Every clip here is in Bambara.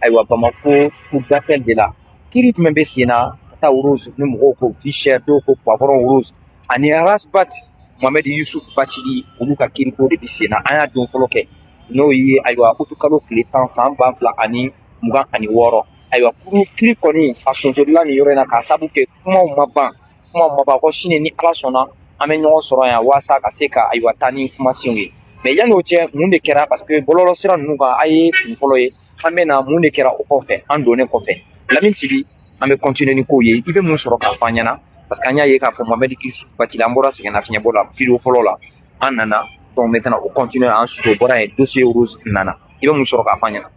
ayiwa bamakɔ cour d'appel de la kiri jumɛn bɛ sen na ka taa rose ni mɔgɔw ko vie chère dɔw ko poivron rose ani ras bath mohamɛdi yusuf batili olu ka kiriko de bɛ sen na an y'a don fɔlɔ kɛ n'o ye ayiwa utukalo tile tan san ba fila ani mugan ani wɔɔrɔ ayiwa kuru kiri kɔni a sonsorola nin yɔrɔ in na k'a sabu kɛ kumaw ma ban kuma mɔgɔ ko sini ni ala sɔnna an bɛ ɲɔgɔn sɔrɔ yan waasa ka se ka ayiwa taa ni kumasenw ye mais yanni o cɛ mun de kɛra parce que bɔlɔlɔ sira ninnu kan a ye kun fɔlɔ ye an bɛ na mun de kɛra o kɔfɛ an donnen kɔfɛ lamini sigi an bɛ kɔntine ni kow ye i bɛ mun sɔrɔ k'a fɔ an ɲɛna parce que an y'a ye k'a fɔ mamɛdi batili an bɔra sɛgɛnna fiɲɛbɔ la video fɔlɔ la an nana donc maintenant o kɔntine an suto bɔra ye dossier rose nana i bɛ mun sɔrɔ k'a fɔ an ɲɛna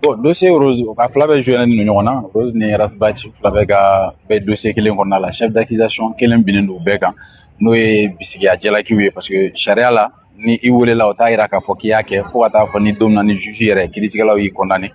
bɔn dosiye rose a fila bɛɛ joyɛlen don ɲɔgɔn na rose ni ras bath fila bɛɛ ka bɛ dosiye kelen kɔnɔna la chef d'accusation kelen binnen don bɛɛ kan n'o ye bisigiya jalakiw ye parce que sariya la ni i welela o t'a yira k'a fɔ k'i y'a kɛ fɔɔ ka t'a fɔ ni don na ni juge yɛrɛ kiritigɛlaw y'i kɔndane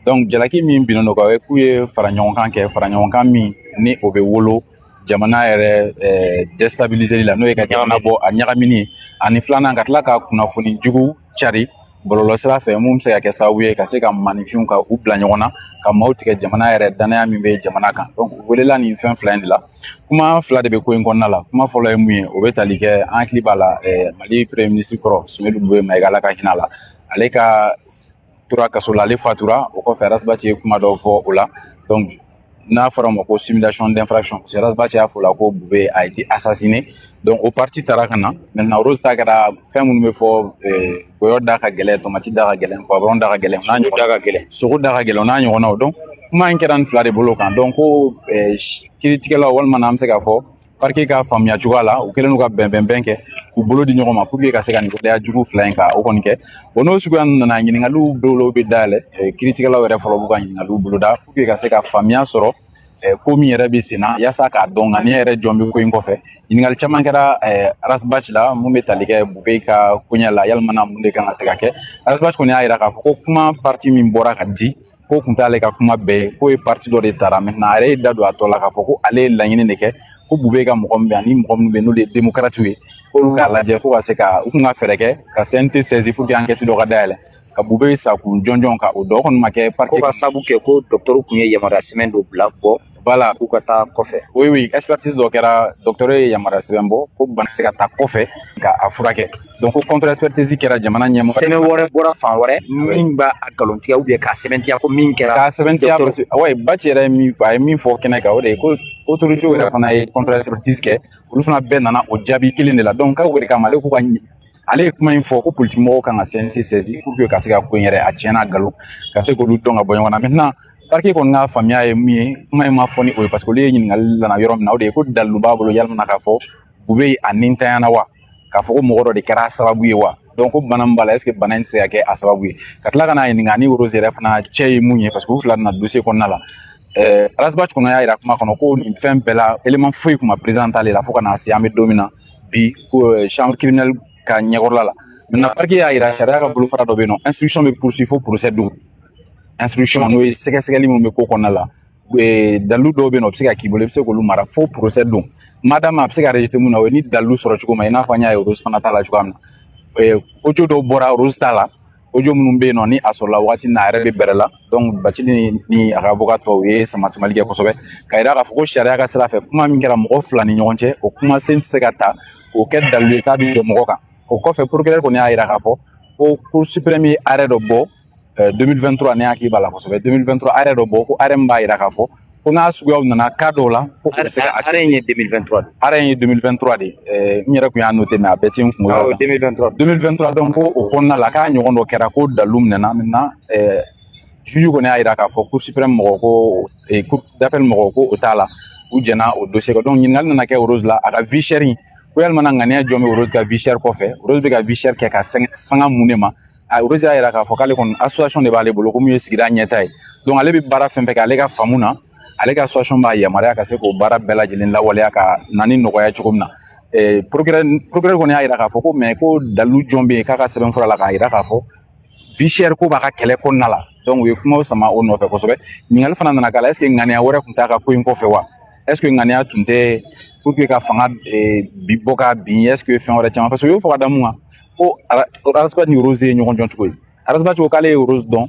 donc jalaki min binnen don u kan k'u ye fara ɲɔgɔnkan kɛ fara ɲɔgɔnkan min ni o bɛ wolo jamana yɛrɛ eh, destabiliseli la n'o ye ka jamana bɔ a ɲagamini ani filanan ka tila ka kunnafoni jugu cari bɔlɔlɔsira fɛ min bɛ se ka kɛ sababu ye ka se ka maaninfinw ka u bila ɲɔgɔn na ka maaw tigɛ jamana yɛrɛ danaya min bɛ jamana kan donc u welela nin fɛn fila in de la kuma fila de bɛ ko in kɔnɔna la kuma fɔlɔ ye mun ye o bɛ tali kɛ an hakili b'a la mali premier ministre kɔrɔ sumeyilu bubɛyi mayiga ala ka hinɛ a la ale ka tora kaso la ale fatura o kɔfɛ ras bath ye kuma dɔw fɔ o la donc n'a fɔra a ma ko simulation d'infraction parce que ras bath y'a fɔ la ko bubɛyi a été assassiné donc o parti taara ka na maintenant rose ta kɛra fɛn minnu bɛ fɔ goyɔ da ka gɛlɛn tomati da ka gɛlɛn poivron da ka gɛlɛn n'a ɲɔgɔn da ka gɛlɛn sogo da ka gɛlɛn n'a ɲɔgɔnnaw donc kuma in kɛra nin fila de bolo kan donc ko kiritigɛlaw walima n'an bɛ se k'a fɔ parquet ka faamuya cogoya la u kɛlen ka bɛnbɛnbɛn kɛ u bolo di ɲɔgɔn ma pour que ka se ka nin gɛlɛya jugu fila in ka o kɔni kɛ o n'o suguya nana ɲiningaliw dɔw bɛ dayɛlɛ eh, kiritigɛlaw yɛrɛ fɔlɔ b'u ka ɲiningaliw boloda pour que ka se ka faamuya sɔrɔ eh, ko min yɛrɛ bɛ senna yaasa k'a dɔn nka ne yɛrɛ jɔn bɛ ko in kɔfɛ ɲininkali caman kɛra eh, ras bath la min bɛ tali kɛ bubɛyi ka koɲɛ la walima na mun de kan ka se ka kɛ ras bath kɔni y'a jira k'a fɔ ko kuma parti min bɔra ka di k'o kun t'ale ka kuma bɛɛ ye k'o ye parti dɔ de tara maintenant a yɛrɛ y'i da don a tɔ la k'a fɔ ko ale ye laɲini de kɛ ko bubɛyi ka mɔgɔ min bɛ ani mɔgɔ minnu bɛ n'olu ye demokaratiw ye k'olu k'a lajɛ ko ka se ka u kun ka fɛɛrɛ kɛ ka cnt saisir pour que ankɛti dɔ ka dayɛlɛ ka bubɛyi sakun jɔnjɔn ka o dɔn kɔni ma kɛ parce que k'a sabu kɛ ko dɔgɔtɔrɔ kun ye yamaruya sɛbɛn dɔ bila bɔ bala k'u ka taa kɔfɛ o ye expertise dɔ kɛra dɔgɔtɔrɔ ye yamaruya sɛbɛn bɔ ko bana se ka taa kɔfɛ ka a furakɛ donc ko contre expertise kɛra jamana ɲɛmɔgɔ sɛbɛn wɛrɛ bɔra fan wɛrɛ min b'a a galontigɛ ou bien k'a sɛbɛntiya ko min kɛra k'a sɛbɛntiya wayi baci yɛrɛ ye min a ye min fɔ kɛnɛ kan o de ye ko autorité yɛrɛ fana ye contre expertise kɛ olu fana bɛɛ nana o jaabi kelen de la donc k'a wele k'a ma ale k'u ka ale ye kuma in fɔ ko politique mɔgɔw kan ka CNT saisi pour que ka se ka ko in yɛrɛ a tiɲɛ n'a galon ka se k'olu dɔn ka bɔ ɲɔgɔn na maintenant parquet kɔni ka faamuya ye min ye kuma in ma fɔ ni o ye parce que olu ye ɲininkali lana yɔrɔ min na o de ye ko dalilu b'a bolo yalima k'a fɔ Boubèye nintanyana wa k'a fɔ ko mɔgɔ dɔ de kɛra a sababu ye wa donc ko bana min b'a la est ce que bana in tɛ se ka kɛ a sababu ye ka tila ka n'a ɲininka ni rose yɛrɛ fana cɛ ye mun ye parce que u fila nana dossier kɔnɔna la ɛɛ Ras Bath kɔnɔ y'a yira kuma kɔnɔ ko nin fɛn bɛɛ la élément foyi tun ma présenté ale la fo ka n'a se an bɛ don min na bi ko euh, chambre criminelle ka ɲɛkɔrɔla la maintenant parquet y'a yira sariya ka bolofara dɔ bɛ yen nɔ instruction bɛ poursuivre fo procès don instruction n'o ye sɛgɛsɛgɛli min bɛ ko kɔnɔna la dalilu dɔw bɛ yen nɔ o bɛ se ka k'i bolo i bɛ se k'olu mara fo procès don maintenant a bɛ se ka rejeté mun na o ye ni dalilu sɔrɔ cogo ma i n'a fɔ an y'a ye rose fana ta la cogoya min na audio dɔw bɔra rose ta la audio minnu bɛ yen nɔ ni a sɔrɔla wagati min na a yɛrɛ bɛ bɛrɛ la donc Bathily ni a ka avocat tɔw ye sama samali kɛ kosɛbɛ ka yira k'a fɔ ko sariya ka sira fɛ kuma min kɛra mɔgɔ fila ni ɲɔgɔn cɛ o kumasen tɛ se ka ta k'o kɛ dalilu ye k'a bɛ jɔ mɔgɔ kan o kɔfɛ procureur kɔni y'a yira k'a fɔ ko cour suprême ye arrêt dɔ bɔ 2023 ne hakili b'a la kosɛbɛ 2023 arrêt dɔ bɔ ko arrêt min b'a yira k'a fɔ ko n'a suguyaw nana cas dɔw la ko u bɛ se ka arrêt in ye 2023 de arrêt in ye 2023 de ɛɛ n yɛrɛ tun y'a noté mais a bɛɛ tɛ n kunkolo la 2023 2023 donc ko o kɔnɔna la k'a ɲɔgɔn dɔ kɛra ko dalilu minɛna maintenant ɛɛ juge kɔni y'a jira k'a fɔ cour suprême mɔgɔw ko ee cour d'appel mɔgɔw ko o t'a la u jɛna o dossier kan donc ɲininkali nana kɛ Rose la a ka vie chère in ko yalima ŋaniya jɔn bɛ Rose ka vie chère kɔfɛ Rose bɛ ka vie chère kɛ ka sanga mun de ma Rose y'a jira k'a fɔ k'ale kɔni association de b'ale bolo ko min ye sigida ɲɛta ye donc ale bɛ baara fɛn fɛn kɛ ale ka faamu na ale ka association b'a yamaruya ka se k'o baara bɛɛ lajɛlen lawaleya ka na ni nɔgɔya cogo min na eh, procureur procureur kɔni y'a jira k'a fɔ ko mais ko dalilu jɔn bɛ yen k'a ka sɛbɛnfura la k'a jira k'a fɔ vie chère ko b'a ka kɛlɛ kɔnɔna la donc u ye kumaw sama o nɔfɛ kosɛbɛ ɲininkali fana nana k'a la est ce que ŋaniya wɛrɛ tun t'a ka ko in kɔfɛ wa est ce que ŋaniya tun tɛ pour que ka fanga eh, bi bɔ ka bin est ce que fɛn wɛrɛ caman parce que u y'o fɔ ka da mun kan ko Ras Bath ni rose ye ɲɔgɔn dɔn cogo ye Ras Bath ko k'ale ye rose dɔn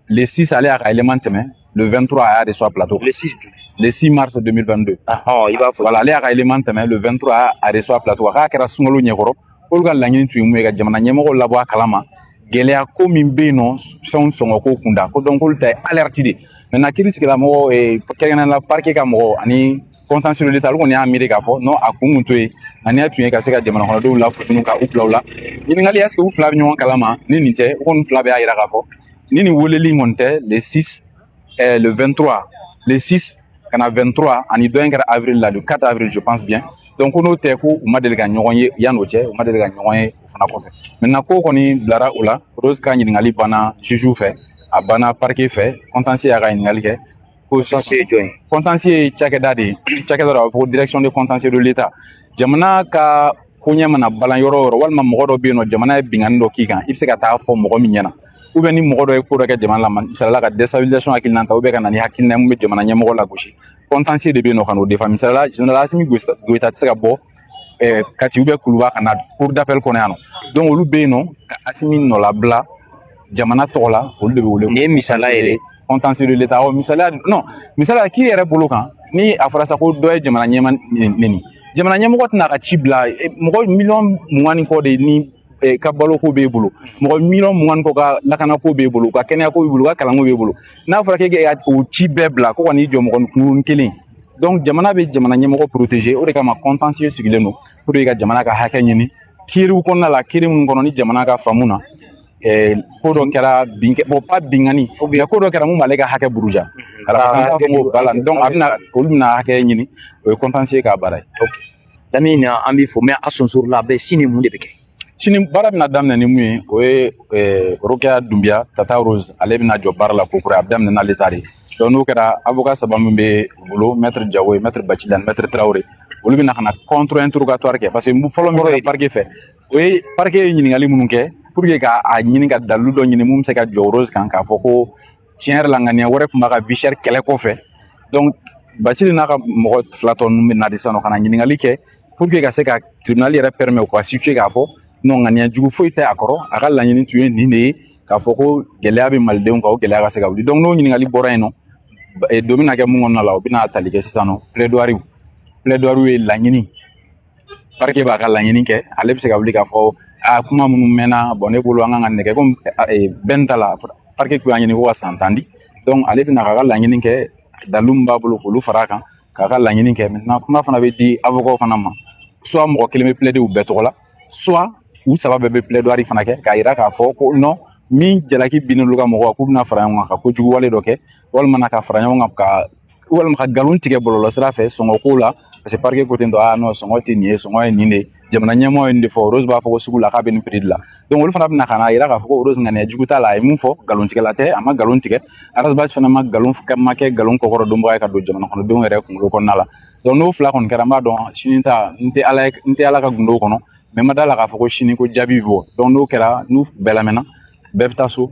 le 6 ale y'a ka élément tɛmɛ le 23 a y'a de sɔrɔ plateau le 6 le 6 mars 2022 ahɔn i b'a fɔ voilà ale y'a ka élément tɛmɛ le 23 a y'a de sɔrɔ plateau k'a kɛra sunkalo ɲɛkɔrɔ k'olu ka laɲini tun ye mun ye ka jamana ɲɛmɔgɔw labɔ a kalama gɛlɛya ko min bɛ yen nɔ fɛnw sɔngɔ ko kunda ko donc k'olu ta ye alerte de ye maintenant kiiri sigilamɔgɔ kɛrɛnkɛrɛnnenya la parquet ka mɔgɔ ani contentieux de l'état olu kɔni y'a miiri k'a fɔ nɔn a kun kun to yen ani y'a tun ye ka se ka jamana kɔnɔdenw la futunu ka u bila u la ɲininkali est-ce que u fila bɛ ɲɔgɔn kalama ni nin tɛ u kɔni fila bɛɛ y'a yira k'a fɔ ni nin weleli kɔni tɛ le 6 eh, le 23 le 6 ka na 23 ani dɔ in kɛra avril la le 4 avril je pense bien donc ko n'o tɛ ko u ma deli ka ɲɔgɔn ye yan'o cɛ u ma deli ka ɲɔgɔn ye o fana kɔfɛ maintenant ko kɔni bilara o la rose ka ɲininkali banna jugew fɛ a banna parquet fɛ contentieux y'a ka ɲininkali kɛ contentieux ye jɔn ye contentieux ye cakɛda de ye cakɛda dɔ a bɛ fɔ ko direction de contentieux de l'état jamana ka ko ɲɛ mana balan yɔrɔ yɔrɔ walima mɔgɔ dɔ bɛ yen nɔ jamana ye binkanni dɔ k'i kan i bɛ se ka taa fɔ mɔgɔ min ɲɛna u bɛ ni mɔgɔ dɔ ye ko dɔ kɛ jamana la misali la ka destabilisation hakilina ta u bɛ ka na ni hakilina mun bɛ jamana ɲɛmɔgɔ lagosi contentieux de bɛ yen nɔ ka n'o défendre misali la general asimi goyita tɛ se ka bɔ eh, kati ou bien kuluba ka na cour d'appel kɔnɔ yan nɔ donc olu bɛ yen nɔ ka asimi nɔlabila jamana tɔgɔ la olu de bɛ wele nin ye misala yɛrɛ contentieux de l'état ɔ misaliya non misaliya k'i yɛrɛ bolo kan ni a fɔra sa ko dɔ ye jamana ɲɛmaa neni jamana ɲɛmɔgɔ tɛna a ka ci bila mɔgɔ miliyɔn mugan ni kɔ de ni eh, ka baloko b'e bolo mɔgɔ miliyɔn mugan kɔ ka lakanako b'e bolo ka kɛnɛyako b'e bolo ka kalanko b'e bolo n'a fɔra k'e ka o ci bɛɛ bila ko ka n'i jɔ mɔgɔ kunkuruni kelen donc jamana bɛ jamana ɲɛmɔgɔ protéger o de kama contentieux sigilen don pour que ka jamana ka hakɛ ɲini kiiriw kɔnɔna la kiiri minnu kɔnɔ ni jamana ka faamu na eh, ko dɔ kɛra binkɛ bon pas binkanni mais ko dɔ kɛra mun b'ale ka hakɛ buruja mhm. alors an b'a fɔ ko bala donc a bɛna olu bɛna hakɛ ɲini o ye contentieux ka baara ye Lamini na an b'i fɔ mɛ a sonsouru la a bɛ sini mun de bɛ kɛ sini baara bɛna daminɛ ni mun ye o ye rokiya dunbiya tata rose ale bɛna jɔ barre la ko kura a bɛ daminɛ n'ale ta ye donc n'o kɛra avocat saba min b'a bolo mɛtiri jawo ye mɛtiri bacili ani mɛtiri tarawele olu bɛna na contre-interrogatoire kɛ parce que fɔlɔ yɔrɔ ye parquet fɛ o ye parquet ye ɲininkali minnu kɛ pour que k'a ɲini ka dalu dɔ ɲini min bɛ se ka jɔ rose kan k'a fɔ ko tiɲɛ yɛrɛ la ŋaniya wɛrɛ tun b'a ka vie chère kɛlɛ kɔfɛ donc bacili n'a ka mɔgɔ fila tɔ ninnu bɛ na de sanɔ ka na ɲininkali kɛ pour que ka se ka tribunal yɛrɛ permet u ka situer k'a fɔ non ŋaniya jugu foyi tɛ a kɔrɔ a ka laɲini tun ye nin de ye k'a fɔ ko gɛlɛya bɛ malidenw kan o gɛlɛya ka se ka wuli donc n'o ɲininkali bɔra yen nɔ don bɛna kɛ mun kɔnɔna la u bɛna tali kɛ sisan nɔ plaidoiries plaidoiries ye laɲini parquet b'a ka laɲini kɛ ale bɛ se ka wuli k'a fɔ a kuma minnu mɛnna bon ne bolo an kan ka n'a kɛ komi bɛn ta la parquet kun y'a ɲini ko ka san tan di donc ale bɛna k'a ka laɲini kɛ dalu min b'a bolo k'olu fara a kan k'a ka laɲini kɛ maintenant kuma fana bɛ di awɔkaw fana ma soit mɔgɔ kelen bɛ plaider u bɛɛ tɔgɔ la soit u saba bɛɛ bɛ plaidoirie fana kɛ k'a yira k'a fɔ ko nɔn min jalaki binn'olu ka mɔgɔ kan k'u bɛna fara ɲɔgɔn kan ka ko juguwale dɔ kɛ walima ka fara ɲɔgɔn kan ka walima ka nkalon tigɛ bɔlɔlɔ sira fɛ sɔngɔ ko la parce que parquet ko ten tɔ a nɔ sɔngɔ tɛ nin ye sɔngɔ ye nin de jamana ɲɛmɔgɔ ye nin de fɔ rose b'a fɔ ko sugu la k'a bɛ nin prix la donc olu fana bɛna ka n'a yira k'a fɔ ko rose ŋaniya jugu t'a la a ye mun fɔ nkalon tigɛla tɛ a ma nkalon tigɛ ras bath fana ma nkalon ma kɛ nkalon kɔkɔrɔdonbaga ye ka don jamana kɔnɔdenw yɛrɛ kunkolo kɔnɔna la donc n'o fila kɔni kɛra n b'a dɔn sini ta n tɛ ala n tɛ ala ka gundo kɔnɔ mais n ma da a la k'a fɔ ko sini ko jaabi bɔ donc n'o kɛra n'u bɛɛ lamɛnna bɛɛ bɛ taa so